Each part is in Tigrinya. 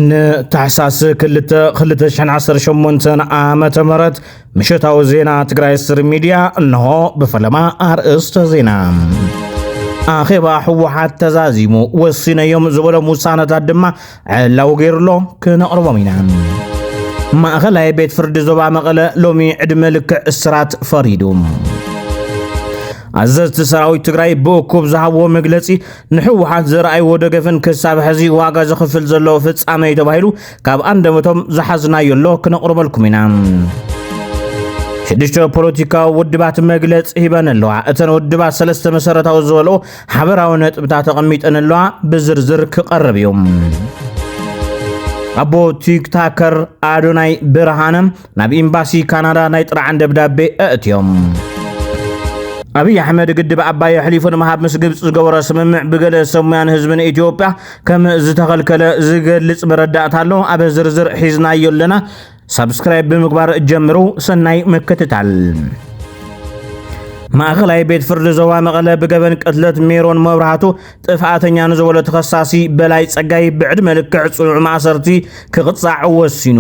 ንታሕሳስ 2 2018 ዓመተ ምህረት ምሸታዊ ዜና ትግራይ ስር ሚድያ እነሆ ብፈለማ ኣርእስተ ዜና ኣኼባ ህወሓት ተዛዚሙ ወሲነዮም ዝበሎም ውሳነታት ድማ ዕላዊ ገይሩ ኣሎ ክነቕርቦም ኢና ማእኸላይ ቤት ፍርዲ ዞባ መቐለ ሎሚ ዕድመ ልክዕ እስራት ፈሪዱ ኣዘዝቲ ሰራዊት ትግራይ ብእኩብ ዝሃብዎ መግለፂ ንሕወሓት ዘርኣይዎ ደገፍን ክሳብ ሕዚ ዋጋ ዘኽፍል ዘሎ ፍጻመ እዩ ተባሂሉ ካብ ኣንደበቶም ዝሓዝናዮ ኣሎ ክነቕርበልኩም ኢና ሽዱሽተ ፖለቲካዊ ውድባት መግለፂ ሂበን ኣለዋ እተን ውድባት ሰለስተ መሰረታዊ ዝበልኦ ሓበራዊ ነጥብታ ተቐሚጠንለዋ ብዝርዝር ክቐርብ እዩ ኣቦ ቲክታከር ኣዶናይ ብርሃነ ናብ ኤምባሲ ካናዳ ናይ ጥርዓን ደብዳቤ ኣእትዮም ኣብይ ኣሕመድ ግድብ ኣባይ ኣሕሊፉ ንምሃብ ምስ ግብፂ ዝገበሮ ስምምዕ ብገለ ሰሙያን ህዝብን ኢትዮጵያ ከም ዝተኸልከለ ዝገልፅ መረዳእታ ኣሎ ኣብ ዝርዝር ሒዝናዮ ኣለና ሳብስክራይብ ብምግባር ጀምሩ። ሰናይ ምክትታል። ማእኸላይ ቤት ፍርዲ ዞባ መቐለ ብገበን ቅትለት ሜሮን መብራህቱ ጥፍኣተኛ ንዝበሎ ተኸሳሲ በላይ ጸጋይ ብዕድመ ልክዕ ጽኑዕ ማእሰርቲ ክቕጻዕ ወሲኑ።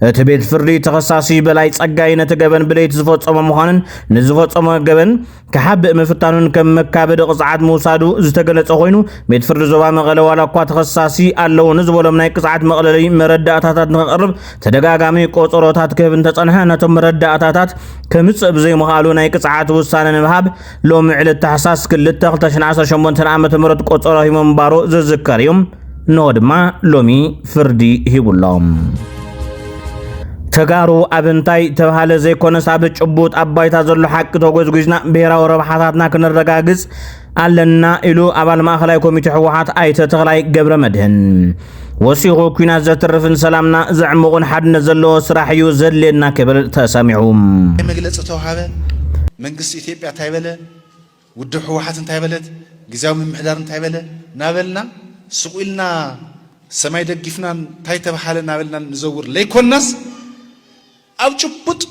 እቲ ቤት ፍርዲ ተኸሳሲ በላይ ጸጋይ ነቲ ገበን ብለይቲ ዝፈጸሞ ምዃንን ንዝፈጸሞ ገበን ክሓብእ ምፍታኑን ከም መካበዲ ቅፅዓት ምውሳዱ ዝተገለጸ ኮይኑ ቤት ፍርዲ ዞባ መቐለ ዋላ እኳ ተኸሳሲ ኣለዉ ንዝበሎም ናይ ቅፅዓት መቕለሊ መረዳእታታት ንክቕርብ ተደጋጋሚ ቆፀሮታት ክህብ እንተጸንሐ ነቶም መረዳእታታት ከምጽእ ብዘይምኽኣሉ ናይ ቅፅዓት ውሳነ ንምሃብ ሎሚ ዕለት ታሕሳስ 2 2018 ዓ ም ቆፀሮ ሂቦም ምንባሩ ዝዝከር እዩ። እንሆ ድማ ሎሚ ፍርዲ ሂቡ ኣሎ። ተጋሩ ኣብ እንታይ ተባሃለ ዘይኮነስ ኣብ ጭቡጥ ኣብ ባይታ ዘሎ ሓቂ ተጎዝጒዝና ብሔራዊ ረብሓታትና ክነረጋግጽ ኣለና ኢሉ ኣባል ማእኸላይ ኮሚቴ ህወሓት ኣይተ ተኽላይ ገብረ መድህን ወሲኹ ኩናት ዘትርፍን ሰላምና ዘዕምቑን ሓድነት ዘለዎ ስራሕ እዩ ዘድልየና ክብል ተሰሚዑ መግለፂ ተዋሃበ። መንግስቲ ኢትዮጵያ እንታይ በለ? ውድብ ህወሓት እንታይ በለት፣ ግዝያዊ ምምሕዳር እንታይ በለ ናበልና ሱቕ ኢልና ሰማይ ደጊፍና እንታይ ተብሃለ ናበልና ንዘውር ለይኮናስ ኣብ ጭቡጥ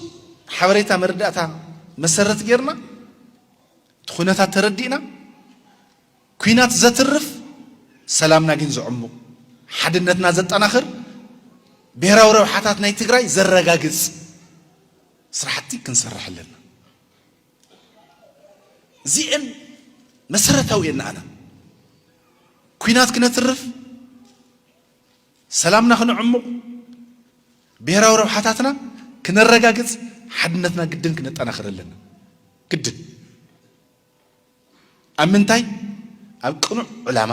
ሓበሬታ መረዳእታ መሰረት ጌርና እቲ ኩነታት ተረዲእና ኩናት ዘትርፍ ሰላምና ግን ዘዕሙቕ ሓድነትና ዘጠናኽር ብሔራዊ ረብሓታት ናይ ትግራይ ዘረጋግጽ ስራሕቲ ክንሰርሕ ኣለና። እዚኤን መሰረታዊ እየን ንኣና ኩናት ክነትርፍ ሰላምና ክነዕሙቕ ብሔራዊ ረብሓታትና ክነረጋግጽ ሓድነትና ግድን ክነጠናኽር ኣለና ግድን ኣብ ምንታይ ኣብ ቅኑዕ ዕላማ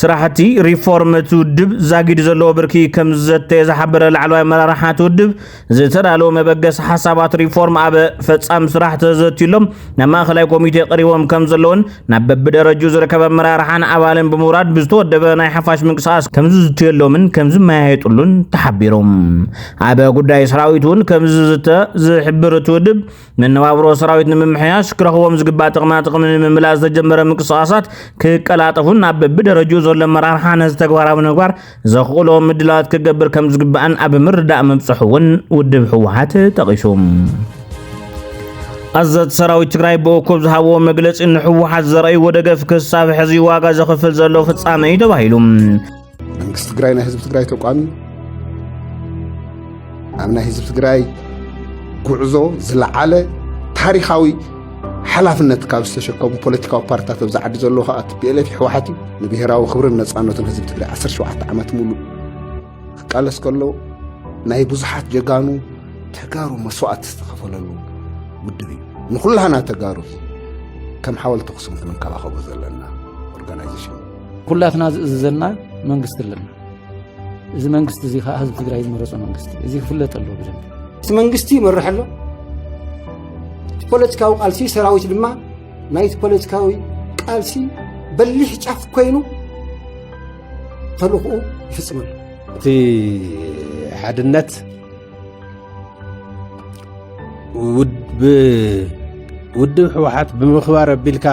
ስራሕቲ ሪፎርም እቲ ውድብ ዛጊድ ዘለዎ ብርኪ ከም ዝዘተየ ዝሓበረ ላዕለዋይ ኣመራርሓ እቲ ውድብ ዝተዳለወ መበገሲ ሓሳባት ሪፎርም ኣብ ፈጻሚ ስራሕ ተዘትዩሎም ናብ ማእኸላይ ኮሚቴ ቀሪቦም ከም ዘለውን ናብ በብደረጁ ዝርከበ ኣመራርሓን ኣባልን ብምውራድ ብዝተወደበ ናይ ሓፋሽ ምንቅስቃስ ከም ዝዝትየሎምን ከም ዝመያየጡሉን ተሓቢሮም ኣብ ጉዳይ ሰራዊት እውን ከም ዝዝተ ዝሕብር እቲ ውድብ መነባብሮ ሰራዊት ንምምሕያሽ ክረኽቦም ዝግባእ ጥቕማ ጥቕሚ ንምምላእ ዝተጀመረ ምንቅስቓሳት ክቀላጠፉን ኣብ በቢደረጅኡ ዘሎ ኣመራርሓ ነዚ ተግባራዊ ምግባር ዘኽእሎ ምድላዋት ክገብር ከም ዝግባእን ኣብ ምርዳእ ምብፅሑ እውን ውድብ ህወሓት ጠቒሱ ኣዘት ሰራዊት ትግራይ ብእኩብ ዝሃብዎ መግለፂ ንህወሓት ዘርእይዎ ደገፍ ክሳብ ሕዚ ዋጋ ዘኽፍል ዘሎ ፍጻመ እዩ ተባሂሉ መንግስቲ ትግራይ ናይ ህዝቢ ትግራይ ተቋሚ ኣብ ናይ ህዝቢ ትግራይ ጉዕዞ ዝለዓለ ታሪኻዊ ሓላፍነት ካብ ዝተሸከሙ ፖለቲካዊ ፓርትታት ኣብዚ ዓዲ ዘለዎ ከዓ ቲፒኤልኤፍ ሕወሓት እዩ ንብሄራዊ ክብርን ነፃነትን ህዝቢ ትግራይ 17 ዓመት ሙሉ ክቃለስ ከሎ ናይ ብዙሓት ጀጋኑ ተጋሩ መስዋእቲ ዝተኸፈለሉ ውድብ እዩ ንኩላህና ተጋሩ ከም ሓወልቲ ኣኽሱም ክንንከባኸቦ ዘለና ኦርጋናይዜሽን ኩላትና ዝእዝዘና መንግስቲ ኣለና እዚ መንግስቲ እዚ ከዓ ህዝቢ ትግራይ ዝመረፆ መንግስቲ እዚ ክፍለጥ ኣለዎ ብደንብ እቲ መንግስቲ ይመርሕ ኣሎ እቲ ፖለቲካዊ ቃልሲ ሰራዊት ድማ ናይቲ ፖለቲካዊ ቃልሲ በሊሕ ጫፍ ኮይኑ ተልእኽኡ ይፍፅም ኣሎ እቲ ሓድነት ውድብ ሕወሓት ብምኽባር ኣቢልካ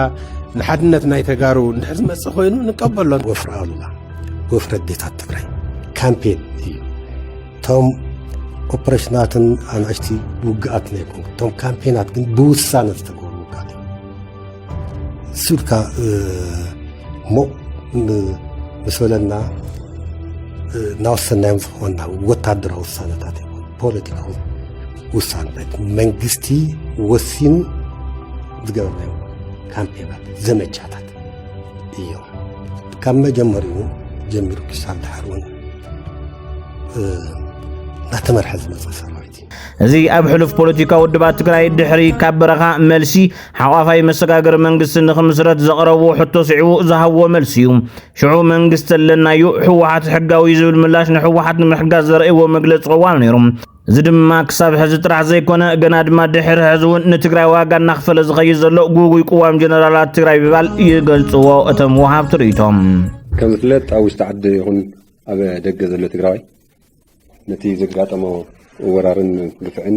ንሓድነት ናይ ተጋሩ እንድሕር ዝመፅእ ኮይኑ ንቀበሎ ወፍሪ ኣሉላ ወፍሪ ኣዴታት ትግራይ ካምፔን እዩ እቶም ኦፕሬሽናትን ኣናእሽቲ ውግኣት ነይኮ እቶም ካምፔናት ግን ብውሳነ ዝተገብሩ ውግኣት እዩ ስብካ ሞቅ ምስ በለና እናወሰናዮም ዝኾና ወታደራዊ ውሳነታት ይኹን ፖለቲካዊ ውሳነታት መንግስቲ ወሲኑ ዝገበርናዮ ካምፔናት ዘመቻታት እዮም ካብ መጀመሪኡ ጀሚሩ ክሳብ ድሓር እውን እናተመርሐ ዝመፀ ሰራዊት እዚ ኣብ ሕሉፍ ፖለቲካ ውድባት ትግራይ ድሕሪ ካብ በረኻ መልሲ ሓቋፋይ መሰጋገሪ መንግስቲ ንኽምስረት ዘቕረብዎ ሕቶ ስዒቡ ዝሃብዎ መልሲ እዩ። ሽዑ መንግስቲ ኣለና እዩ፣ ህወሓት ሕጋዊ እዩ ዝብል ምላሽ ንህወሓት ንምሕጋዝ ዘርእይዎ መግለፂ ቅዋም ነይሩ። እዚ ድማ ክሳብ ሕዚ ጥራሕ ዘይኮነ ገና ድማ ድሕሪ ሕዚ እውን ንትግራይ ዋጋ እናኽፈለ ዝኸይድ ዘሎ ጉጉይ ቅዋም ጀነራላት ትግራይ ብምባል ይገልፅዎ እቶም ወሃብቲ ርእይቶም። ከም ዝፍለጥ ኣብ ውሽጢ ዓዲ ይኹን ኣብ ደገ ዘሎ ትግራዋይ ነቲ ዘጋጠሞ ወራርን ግፍዕን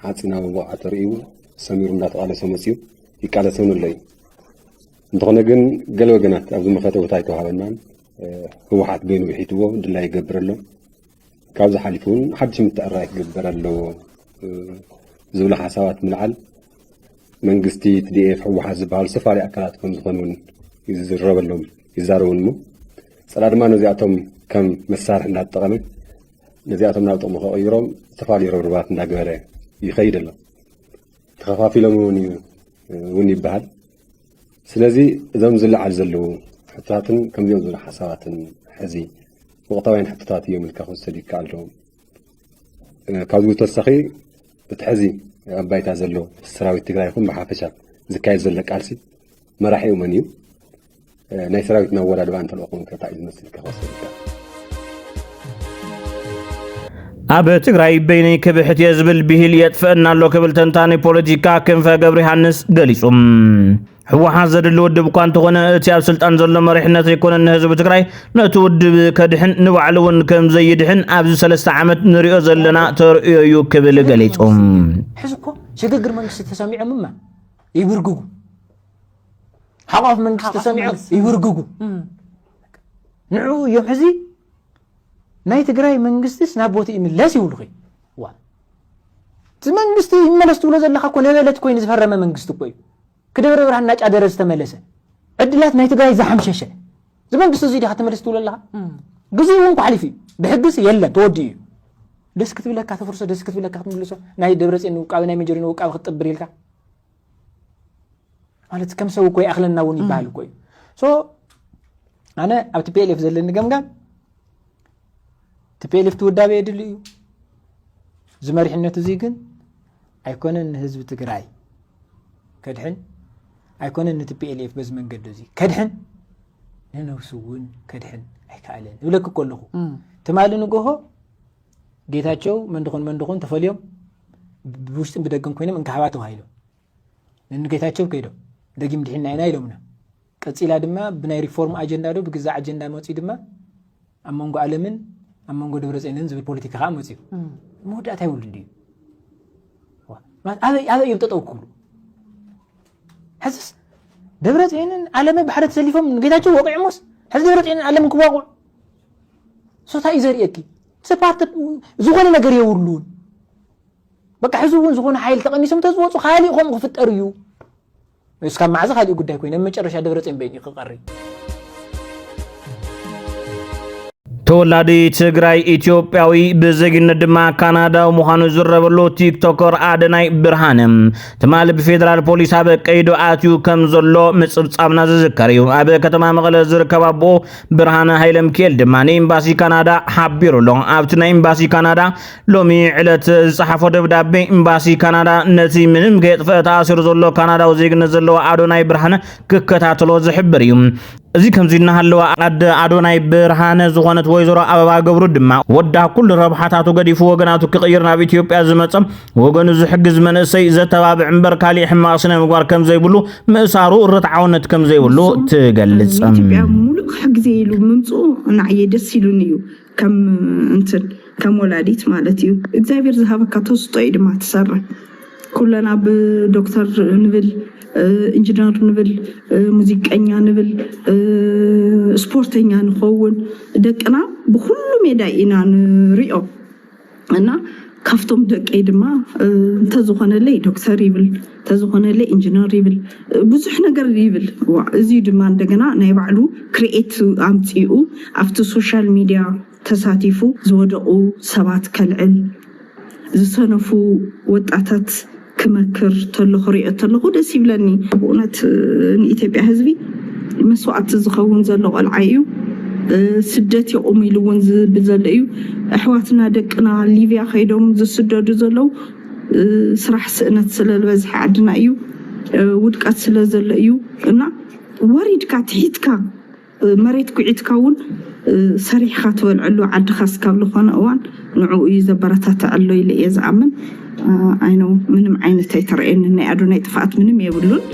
ሓጺናዊ ብቕዓት ኣርእዩ ሰሚሩ እንዳተቓለሶ መጺኡ ይቃለስ እውን ኣሎ እዩ። እንተኾነ ግን ገለ ወገናት ኣብዚ መኸተ ቦታ ኣይተዋሃበናን ህወሓት በይኑ ብሒትዎ ድላይ ይገብር ኣሎ ካብዚ ሓሊፉ እውን ሓድሽ ምትዕርራይ ክግበር ኣለዎ ዝብሉ ሓሳባት ምልዓል መንግስቲ ቲዲኤፍ ህወሓት ዝበሃሉ ዝተፈላለዩ ኣካላት ከም ዝኾኑ እውን ይዝረበሎም ይዛረቡን እሞ ፀላ ድማ ነዚኣቶም ከም መሳርሒ እናተጠቐመ ነዚኣቶም ናብ ጥቕሚ ከቐይሮም ዝተፈላለዩ ርብርባት እናገበረ ይኸይድ ኣሎ ተኸፋፊሎም እውን እዩ እውን ይበሃል ስለዚ እዞም ዝለዓል ዘለዉ ሕቶታትን ከምዚኦም ዝበሉ ሓሳባትን ሕዚ ወቕታውያን ሕቶታት እዮም ኢልካ ክወሰድ ይከኣል ዶ ካብዚ ብተወሳኺ እቲ ሕዚ ኣብ ባይታ ዘሎ ሰራዊት ትግራይ ይኹን ብሓፈሻ ዝካየድ ዘሎ ቃልሲ መራሒኡ መን እዩ? ናይ ሰራዊትና ኣወዳድባ እንተልእኹም ከታይ እዩ ዝመስል ከኸሰብ ይከኣል? ኣብ ትግራይ በይነይ ክብሕት እየ ዝብል ብሂል የጥፍአና ኣሎ ክብል ተንታኒ ፖለቲካ ክንፈ ገብረ ዮሃንስ ገሊጹ። ህወሓት ዘድሊ ውድብ እኳ እንተኾነ እቲ ኣብ ስልጣን ዘሎ መሪሕነት ዘይኮነን ንህዝቢ ትግራይ ነቲ ውድብ ከድሕን ንባዕሉ እውን ከም ዘይድሕን ኣብዚ ሰለስተ ዓመት ንሪኦ ዘለና ተርእዮ እዩ ክብል ገሊጹ። ሕዚ እኮ ሽግግር መንግስቲ ተሰሚዖም እማ ይብርግጉ፣ ሓቋፍ መንግስቲ ተሰሚዖም ይብርግጉ። ንዕኡ እዮም ሕዚ ናይ ትግራይ መንግስትስ ናብ ቦቲ ይምለስ ይብሉ ኸ ዋ እቲ መንግስቲ ይመለስ ትብሎ ዘለካ እኮ ነበለት ኮይኑ ዝፈረመ መንግስቲ እኮ እዩ ክደብረ ብርሃን እናጫደረ ዝተመለሰ ዕድላት ናይ ትግራይ ዝሓምሸሸ እዚ መንግስቲ እዙይ ዲኻ ተመለስ ትብሎ ኣለኻ ግዜ እውን ኳሕሊፉ እዩ ብሕግስ የለን ተወዲኡ እዩ ደስ ክትብለካ ተፍርሶ ደስ ክትብለካ ክትምልሶ ናይ ደብረፅን ውቃቢ ናይ መጀሪኖ ውቃቢ ክትጥብር ኢልካ ማለት ከም ሰብ እኮ ይኣኽለና እውን ይበሃል እኮ እዩ ሶ ኣነ ኣብ ቲፒኤልኤፍ ዘለኒ ገምጋም ቲፒኤልኤፍ ትውዳበ የድሊ እዩ እዚ መሪሕነት እዙይ ግን ኣይኮነን ንህዝቢ ትግራይ ከድሕን ኣይኮነን ንቲፒኤልኤፍ በዚ መንገዲ እዚ ከድሕን ንነብሱ እውን ከድሕን ኣይከኣለን እብለክ ከለኹ ትማሊ ንጎሆ ጌታቸው መንድኹን መንድኹን ተፈልዮም ብውሽጥን ብደገን ኮይኖም እንካሕባ ተባሂሎም ንጌታቸው ከይዶም ደጊም ድሒና ኢና ኢሎምና ቀጺላ ድማ ብናይ ሪፎርም ኣጀንዳ ዶ ብግዛእ ኣጀንዳ መጺኡ ድማ ኣብ መንጎ ኣለምን ኣብ መንጎ ደብረጼንን ዝብል ፖለቲካ ከዓ መጺኡ መወዳእታ ይብሉ እንድዩ ኣበይ ኣበይ እዮም ጠጠው ክብሉ ሕዝስ ደብረጼንን ኣለመ ብሓደ ተሰሊፎም ንጌታቸው ወቂዕሞስ ሕዚ ደብረጼንን ኣለምን ክዋቑዑ ሶታ እዩ ዘርእየኪ ስፓርት ዝኾነ ነገር የብሉን በቃ ሕዚ እውን ዝኾነ ሓይል ተቐኒሶም ተዝወፁ ካሊእ ከምኡ ክፍጠር እዩ እስካብ ማዕዝ ካሊእ ጉዳይ ኮይኑ ኣብ መጨረሻ ደብረፅዮን በይኑ እዩ ክቀሪ። ተወላዲ ትግራይ ኢትዮጵያዊ ብዜግነት ድማ ካናዳዊ ምዃኑ ዝረበሉ ቲክቶከር ኣደናይ ብርሃነ ትማሊ ብፌዴራል ፖሊስ ኣብ ቀይዱ ኣትዩ ከም ዘሎ ምፅብፃብና ዝዝከር እዩ ኣብ ከተማ መቐለ ዝርከብ ኣቦኡ ብርሃነ ሃይለ ሚካኤል ድማ ንኤምባሲ ካናዳ ሓቢሩ ኣሎ ኣብቲ ናይ ኤምባሲ ካናዳ ሎሚ ዕለት ዝጸሓፎ ደብዳቤ ኤምባሲ ካናዳ ነቲ ምንም ገየጥፍአ ተኣሲሩ ዘሎ ካናዳዊ ዜግነት ዘለዎ ኣዶናይ ብርሃነ ክከታተሎ ዝሕብር እዩ እዚ ከምዚ እናሃለወ ኣደ ኣዶናይ ብርሃነ ዝኾነት ወይዘሮ ኣበባ ገብሩ ድማ ወዳ ኩሉ ረብሓታቱ ገዲፉ ወገናቱ ክቕይር ናብ ኢትዮጵያ ዝመጸ ወገኑ ዝሕግዝ መንእሰይ ዘተባብዕ እምበር ካሊእ ሕማቕ ስነ ምግባር ከም ዘይብሉ ምእሳሩ ርትዓውነት ከም ዘይብሉ ትገልጽ ኢትዮጵያ ሙሉእ ክሕግዜ ኢሉ ምምፅኡ ንዓየ ደስ ኢሉኒ እዩ ከም እንትን ከም ወላዲት ማለት እዩ እግዚኣብሔር ዝሃበካ ተስጦ እዩ ድማ ትሰርሕ ኩለና ብዶክተር ንብል ኢንጂነር ንብል ሙዚቀኛ ንብል ስፖርተኛ ንኸውን ደቅና ብኩሉ ሜዳ ኢና ንሪኦ እና ካብቶም ደቀይ ድማ እንተዝኾነለይ ዶክተር ይብል እንተዝኾነለይ ኢንጂነር ይብል ብዙሕ ነገር ይብል እዚ ድማ እንደገና ናይ ባዕሉ ክርኤት ኣምፂኡ ኣብቲ ሶሻል ሚድያ ተሳቲፉ ዝወደቁ ሰባት ከልዕል ዝሰነፉ ወጣታት ክመክር ተሎ ክሪኦ ተለኹ ደስ ይብለኒ። ብእውነት ንኢትዮጵያ ህዝቢ መስዋእቲ ዝኸውን ዘሎ ቆልዓ እዩ። ስደት የቑም ኢሉ እውን ዝብል ዘሎ እዩ። ኣሕዋትና ደቅና ሊብያ ከይዶም ዝስደዱ ዘለው ስራሕ ስእነት ስለዝበዝሐ ዓድና እዩ ውድቀት ስለ ዘሎ እዩ እና ወሪድካ ትሒትካ መሬት ኩዒትካ እውን ሰሪሕኻ ትበልዐሉ ዓድኻ እስካብ ልኾነ እዋን ንዕኡ እዩ ዘበረታትዕ ኣሎ ኢለ እየ ዝኣምን። ኣይ ኖው ምንም ዓይነት ኣይተረኣየንን ናይ ኣዶናይ ጥፍኣት ምንም የብሉን።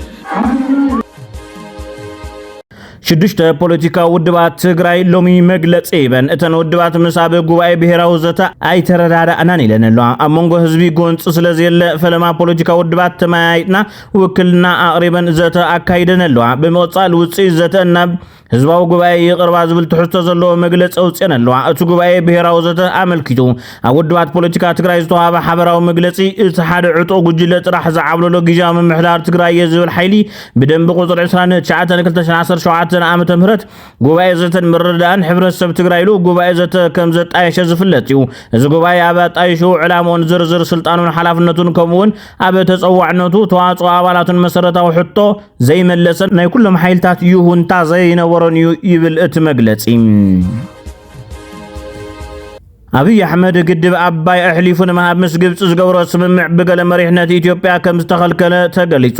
ሽዱሽተ ፖለቲካዊ ውድባት ትግራይ ሎሚ መግለፂ ይበን እተን ውድባት ምስ ኣብ ጉባኤ ብሔራዊ ዘተ ኣይተረዳዳእናን ኢለን ኣለዋ ኣብ መንጎ ህዝቢ ጎንፂ ስለዘየለ ፈለማ ፖለቲካዊ ውድባት ተመያይጥና ውክልና ኣቕሪበን ዘተ ኣካይደን ኣለዋ። ብምቕጻል ውጽኢት ዘተን ናብ ህዝባዊ ጉባኤ ይቕርባ ዝብል ትሕዝቶ ዘለዎ መግለጺ ኣውፅኤን ኣለዋ። እቲ ጉባኤ ብሄራዊ ዘተ ኣመልኪቱ ኣብ ውድባት ፖለቲካ ትግራይ ዝተዋሃበ ሓበራዊ መግለጺ እቲ ሓደ ዕጡቕ ጉጅለ ጥራሕ ዝዓብለሎ ግዜያዊ ምምሕዳር ትግራይ እየ ዝብል ሓይሊ ብደንቢ ቁፅሪ 29/2017 ዓ.ም ጉባኤ ዘተን ምርድዳእን ሕብረተሰብ ትግራይ ኢሉ ጉባኤ ዘተ ከም ዘጣየሸ ዝፍለጥ እዩ። እዚ ጉባኤ ኣብ ኣጣይሹ ዕላምኡን ዝርዝር ስልጣኑን ሓላፍነቱን ከምኡውን ኣብ ተፀዋዕነቱ ተዋፅኦ ኣባላቱን መሰረታዊ ሕቶ ዘይመለሰን ናይ ኩሎም ሓይልታት ይሁንታ ዘይነበሮን እዩ ይብል እቲ መግለፂ። ኣብይ ኣሕመድ ግድብ ኣባይ ኣሕሊፉ ንምሃብ ምስ ግብፂ ዝገብሮ ስምምዕ ብገለ መሪሕነት ኢትዮጵያ ከም ዝተኸልከለ ተገሊጹ።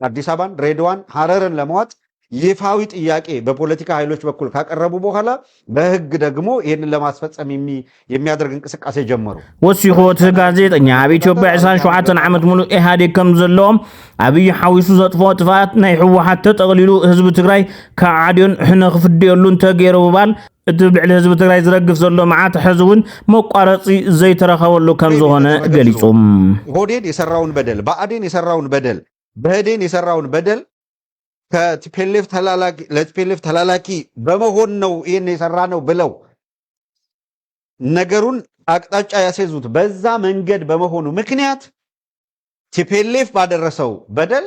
አዲስ አበባን ድሬዳዋን ሀረርን ለመዋጥ ይፋዊ ጥያቄ በፖለቲካ ኃይሎች በኩል ካቀረቡ በኋላ በህግ ደግሞ ይህንን ለማስፈጸም የሚያደርግ እንቅስቃሴ ጀመሩ። ወሲኹ እቲ ጋዜጠኛ ኣብ ኢትዮጵያ 27 ዓመት ሙሉእ ኢህአዴግ ከም ዘሎ ኣብዩ ሓዊሱ ዘጥፍኦ ጥፍኣት ናይ ህወሓት ተጠቕሊሉ ህዝቢ ትግራይ ክዓድዮን ሕነ ክፍደየሉን ተገይሩ ብባል እቲ ብ ልዕሊ ህዝቢ ትግራይ ዝረግፍ ዘሎ መዓት ሕዚ እውን መቋረፂ ዘይተረኸበሉ ከም ዝኾነ ገሊፁ። ኢህወዴን የሰራውን በደል፣ ብኣዴን የሰራውን በደል፣ ብህዴን የሰራውን በደል ከቲፔሌፍ ተላላኪ ለቲፔሌፍ ተላላኪ በመሆን ነው ይህን የሰራ ነው ብለው ነገሩን አቅጣጫ ያስያዙት በዛ መንገድ በመሆኑ ምክንያት ቲፔሌፍ ባደረሰው በደል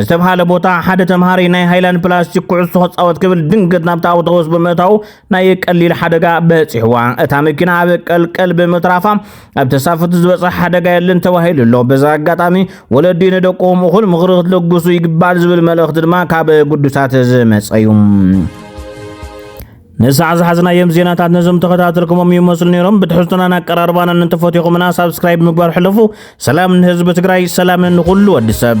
ዝተብሃለ ቦታ ሓደ ተምሃሪ ናይ ሃይላንድ ፕላስቲክ ኩዕሶ ክፃወት ክብል ድንገት ናብቲ ኣውቶቡስ ብምእታው ናይ ቀሊል ሓደጋ በፂሕዋ እታ መኪና ኣብ ቀልቀል ብምትራፋ ኣብ ተሳፈርቲ ዝበፅሐ ሓደጋ የለን ተባሂሉ ኣሎ በዛ ኣጋጣሚ ወለዲ ንደቆም እኹል ምኽሪ ክትለግሱ ይግባል ዝብል መልእኽቲ ድማ ካብ ግዱሳት ዝመፀ እዩ ንሳዕ ዝሓዝናዮም ዜናታት ነዞም ተኸታተልኩሞም ይመስሉ ነይሮም። ብትሕዝቶናን ኣቀራርባናን እንተፈትኹምና ሳብስክራይብ ምግባር ሕለፉ። ሰላም ንህዝቢ ትግራይ፣ ሰላም ንኹሉ ወዲ ሰብ።